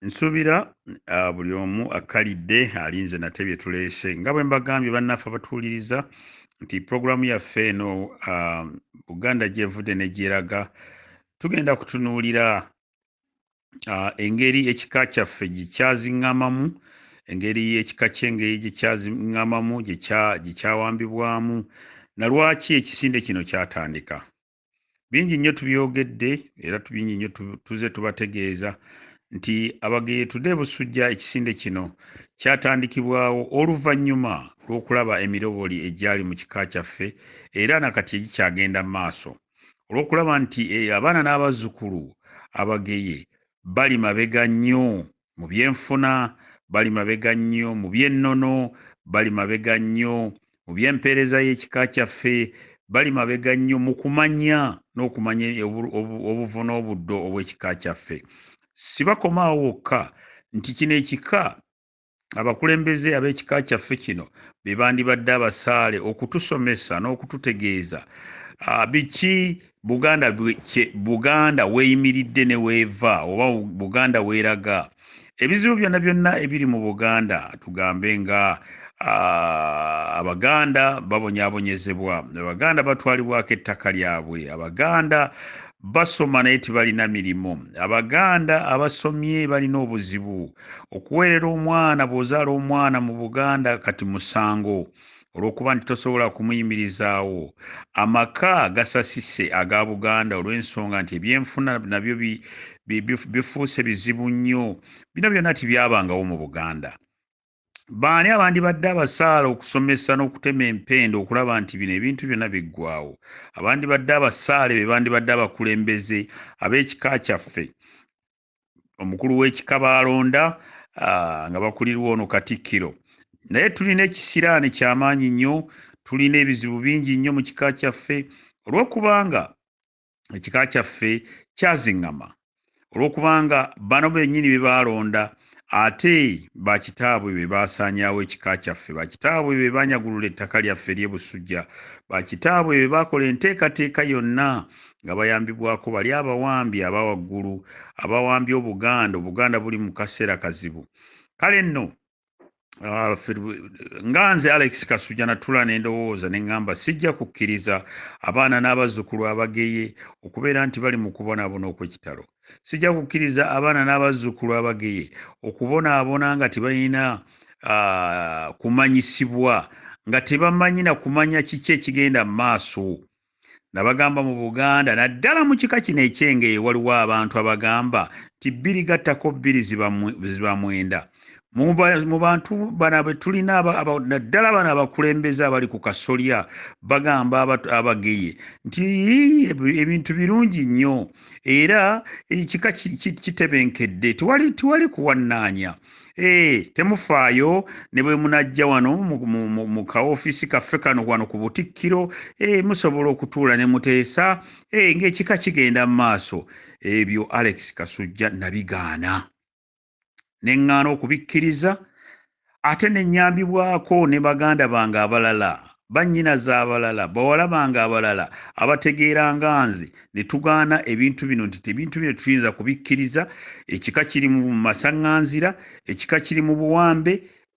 nsuubira ah, buli omu akkalidde alinze nate bye tuleese nga bwe mbagambye bannaffe abatuwuliriza nti pulogulaamu yaffe eno ah, buganda gyevudde ne gyeraga tugenda kutunuulira ah, engeri ekika kyaffe gye kyaziŋŋamamu engeri ekika ky'engeri gye kyaziŋŋamamu gye kyawambibwamu na lwaki ekisinde kino kyatandika bingi nnyo tubyogedde era tubingi nnyo tuze tubategeeza nti abageyetude busujja ekisinde kino kyatandikibwawo oluvannyuma lw'okulaba emiroboli egyali mu kika kyaffe era nakati egikyagenda mu maaso olw'okulaba nti eh, abaana n'abazzukulu abageye bali mabega nnyo Mu byenfuna bali mabega nnyo, mu by'ennono bali mabega nnyo, mu by'empeereza y'ekika kyaffe bali mabega nnyo, mu kumanya n'okumanya obuvo n'obuddo obw'ekika kyaffe. Sibakoma awo wokka nti kino ekika abakulembeze ab'ekika kyaffe kino be bandibadde abasaale okutusomesa n'okututegeeza biki Buganda kye Buganda w'eyimiridde ne w'eva oba Buganda w'eraga. Ebizibu byonna byonna ebiri mu Buganda tugambe nga Abaganda babonyabonyezebwa, Abaganda batwalibwako ettaka lyabwe, Abaganda basoma naye tibalina mirimu abaganda abasomye balina obuzibu okuweerera omwana bw'ozaala omwana mu buganda kati musango olw'okuba nti tosobola kumuyimirizaawo. Amaka gasasise aga Buganda olw'ensonga nti ebyenfuna nabyo bifuuse bizibu nnyo. Bino byonna tibyabangawo mu Buganda. Baani abandibadde abasaala okusomesa n'okutema empenda okulaba nti bino ebintu byonna biggwawo? Abandibadde abasaale be bandibadde abakulembeze ab'ekika kyaffe. omukulu w'ekika baalonda ah, nga bakulirwa ono katikkiro naye tulina ekisiraani kyamaanyi nnyo tulina ebizibu bingi nnyo mu kika kyaffe olw'okubanga ekika kyaffe kyaziŋŋama olw'okubanga bano bennyini be baalonda ate bakitaabwe be baasaanyaawo ekika kyaffe bakitaabwe be baanyagulula ettaka lyaffe ery'e busujja bakitaabwe be baakola enteekateeka yonna nga bayambibwako bali abawambi aba waggulu abawambye obuganda obuganda buli mu kaseera kazibu kale nno Ah, nga nze alex kasuja natula nendowooza neŋŋamba sijja kukkiriza abaana n'abazzukulu abageye okubeera nti bali mu kubonaabona okwekitalo sijja kukkiriza abaana n'abazzukulu abageye okubonaabona nga tebalina ah, kumanyisibwa nga tebamanyi na kumanya kiki ekigenda mu maaso nga bagamba mu Buganda naddala mu kika kino eky'Engeye waliwo abantu abagamba nti bbiri gattako bbiri ziba mwenda. Mu bantu bano be tulina naddala bano abakulembeze abali ku kasolya bagamba abageye nti ebintu birungi nnyo era ekika kitebenkedde tewali kuwannaanya. Hey, temufaayo ne bwe munajja wano mu ka ofiisi kaffe kano wano ku butikkiro hey, musobola okutuula ne muteesa hey, ng'ekika kigenda mu maaso ebyo alex kasujja nabigaana ne ŋŋaana okubikkiriza ate ne nnyambibwako ne baganda bange abalala bannyinaze abalala bawala bange abalala abategeera nga nze ne tugaana ebintu bino nti tebintu bino tetuyinza kubikkiriza ekika kiri mu masaŋŋanzira ekika kiri mu buwambe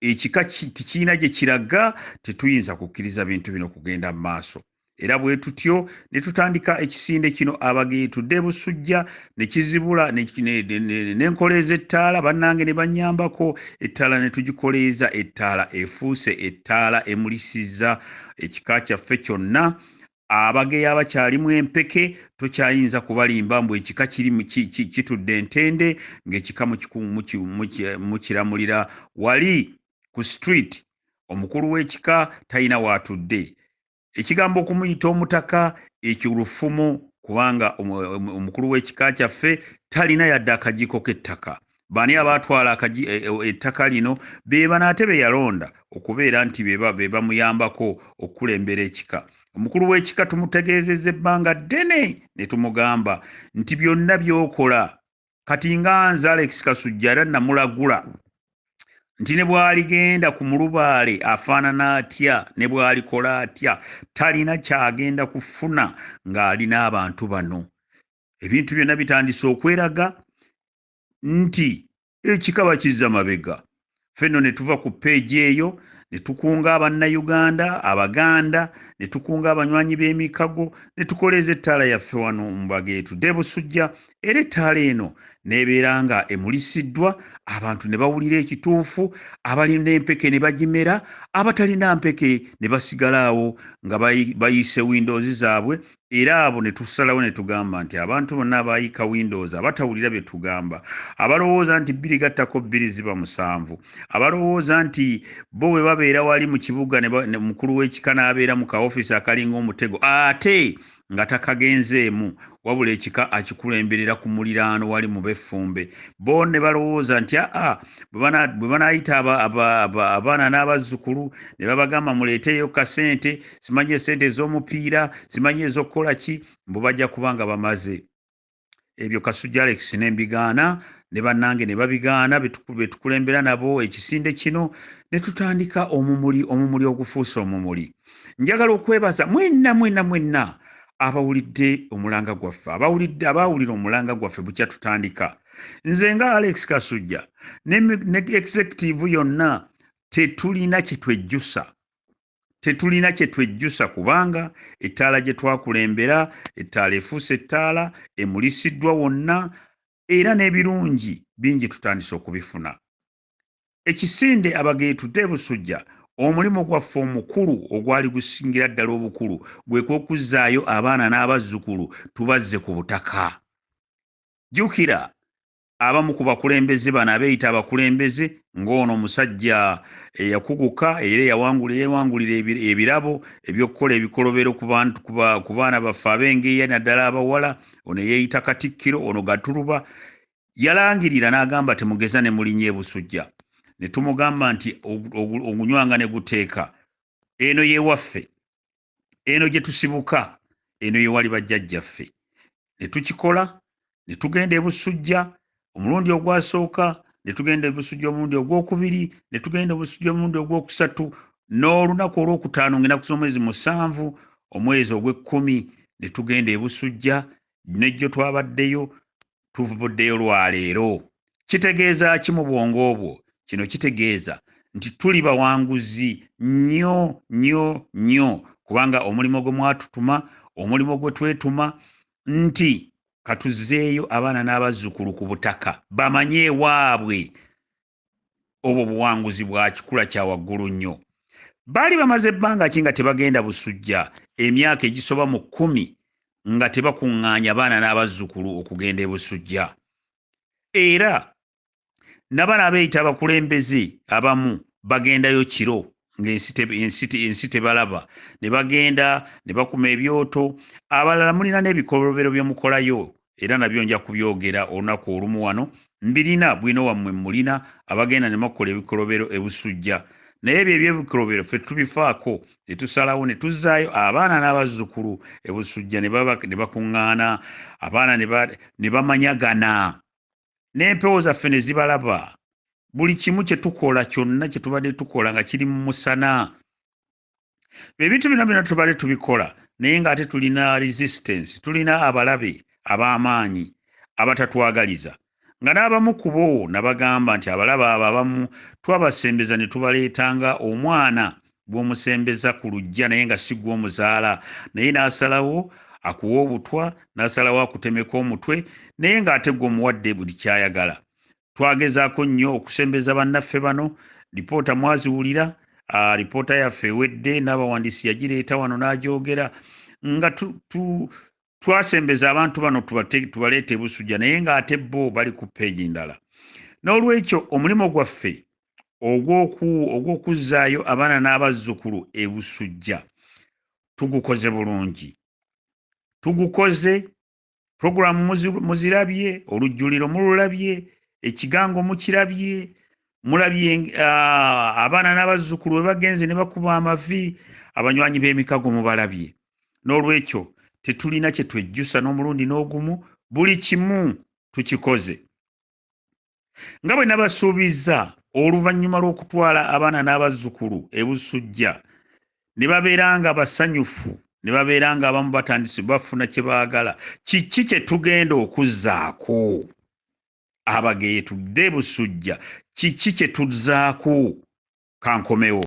ekika tikirina gye kiraga tetuyinza kukkiriza bintu bino kugenda mu maaso era bwe tutyo ne tutandika ekisinde kino abage tudde busujja ne kizibula n'enkoleeza ettaala bannange ne bannyambako ettaala ne tugikoleeza ettaala efuuse ettaala emulisizza ekika kyaffe kyonna abageya abakyalimu empeke tokyayinza kubalimba mbu ekika kiri kitudde entende ng'ekika mukiramulira wali ku street omukulu w'ekika talina waatudde Ekigambo okumuyita omutaka ekyo lufumo kubanga omukulu w'ekika kyaffe talina yadde akajiiko k'ettaka. Baani abaatwala e, e, ettaka lino? Be bano ate be yalonda okubeera nti be bamuyambako okukulembera ekika. Omukulu w'ekika tumutegeezezza ebbanga ddene ne tumugamba nti byonna by'okola kati nga nze alex kasujja era namulagula nti ne bwaligenda ku mulubaale afaanana atya ne bwalikola atya talina kyagenda kufuna ng'ali n'abantu bano ebintu byonna bitandise okweraga nti ekikaba kizza mabega ffe nno ne tuva ku peegi eyo ne tukunga abannayuganda abaganda ne tukunga abanywanyi b'emikago ne tukoleeza ettaala yaffe wano mu mbaga etudde busujja era ettaala eno n'ebeera nga emulisiddwa abantu ne bawulira ekituufu abalina empeke ne bagimera abatalina mpeke ne basigalaawo nga bayiise windoozi zaabwe era abo ne tusalawo ne tugamba nti abantu bonna abaayika windows abatawulira bye tugamba abalowooza nti bbiri gattako bbiri ziba musanvu abalowooza nti bo bwe babeera wali mu kibuga ne mukulu w'ekika n'abeera mu kaofiisi akalinga omutego ate nga takagenzeemu wabula ekika akikulemberera ku muliraano wali mu beffumbe bo ne balowooza nti aa bwe banaayita abaana n'abazzukulu ne babagamba muleeteeyo kasente simanyi esente ez'omupiira simanyi ez'okukola ki mbu bajja kuba nga bamaze ebyo kasujja alex ne mbigaana ne bannange ne babigaana betukulembera nabo ekisinde kino ne tutandika omumuli omumuli ogufuuse omumuli njagala okwebaza mwenna mwenna mwenna abawulidde omulanga gwaffe abawulidde abaawulira omulanga gwaffe bukya tutandika nze nga alex kasujja ne executive yonna tetulina kyetwejjusa tetulina kye twejjusa kubanga ettaala gye twakulembera ettaala efuuse ettaala emulisiddwa wonna era n'ebirungi bingi tutandise okubifuna ekisinde abageetude busujja omulimu gwaffe omukulu ogwali gusingira ddala obukulu gwe kwokuzzaayo abaana n'abazzukulu tubazze ku butaka jjukira abamu ku bakulembeze bano abeeyita abakulembeze ng'ono omusajja eyakuguka era eyawangula eyawangulira ebirabo eby'okukola ebikolobero ku baana baffe ab'engeeya naddala abawala ono eyeeyita katikkiro ono gatuluba yalangirira n'agamba temugeza ne mulinya ebusujja ne tumugamba nti ogunywanga ne guteeka eno y'ewaffe eno gye tusibuka eno ye wali bajjajjaffe ne tukikola ne tugenda ebusujja omulundi ogwasooka ne tugenda ebusujja omulundi ogwokubiri ne tugenda obusujja omulundi ogwokusatu n'olunaku olwokutaano ngaenaku z'omwezi musanvu omwezi ogw'ekkumi ne tugenda ebusujja nejjo twabaddeyo tuvuddeyo lwa leero. Kitegeeza ki mu bwongo bwo? Kino kitegeeza nti tuli bawanguzi nnyo nnyo nnyo kubanga omulimu gwe mwatutuma, omulimu gwe twetuma nti katuzeeyo abaana n'abazzukulu ku butaka bamanye ewaabwe obwo buwanguzi bwa kikula kya waggulu nnyo baali bamaze ebbanga ki nga tebagenda busujja emyaka egisoba mu kkumi nga tebakuŋŋaanya baana n'abazzukulu okugenda ebusujja era nabana abeeyita abakulembeze abamu bagendayo kiro ngaensi tebalaba ne bagenda ne bakuma ebyoto abalala mulina n'ebikolobero bye mukolayo era nabyo nja kubyogera olunaku olumu wano mbirina bwino wammwe mulina abagenda ne makukola ebikolobero ebusujja naye ebyo ebyebikolobero ffe tubifaako ne tusalawo ne tuzzaayo abaana n'abazzukulu ebusujja ne bakuŋŋaana abaana ne bamanyagana n'empewo zaffe ne zibalaba buli kimu kye tukola kyonna kye tubadde tukola nga kiri mu musana ebintu bino byona tubale tubikola naye nga ate tulina resistance tulina abalabe ab'amaanyi abatatwagaliza nga n'abamu kubo nabagamba nti abalaba abo abamu twabasembeza ne tubaleeta nga omwana gwomusembeza ku lujja naye nga si gwomuzaala naye n'asalawo akuwa obutwa n'asalawo akutemeka omutwe naye ng'ate gwomuwadde buli kyayagala Twagezaako nnyo okusembeza bannaffe bano, lipoota mwaziwulira, lipoota yaffe ewedde n'abawandiisi yagireeta wano n'agyogera nga twasembeza abantu bano tubaleeta ebusujja naye ng'ate bo bali ku peegi ndala. N'olwekyo omulimu gwaffe ogw'okuzzaayo abaana n'abazzukulu ebusujja tugukoze bulungi. Tugukoze puroguramu muzirabye olujjuliro mululabye ekigango mukirabye mulabye ah, abaana n'abazzukulu bwe bagenze ne bakuba amavi abanywanyi b'emikago mubalabye n'olwekyo tetulina kye twejjusa n'omulundi n'ogumu buli kimu tukikoze nga bwe nabasuubizza oluvannyuma lw'okutwala abaana n'abazzukulu e busujja ne babeera nga basanyufu ne babeera nga abamu batandise bafuna kye baagala kiki kye tugenda okuzzaako abageye tudde e busujja kiki kye tuzzaako kankomewo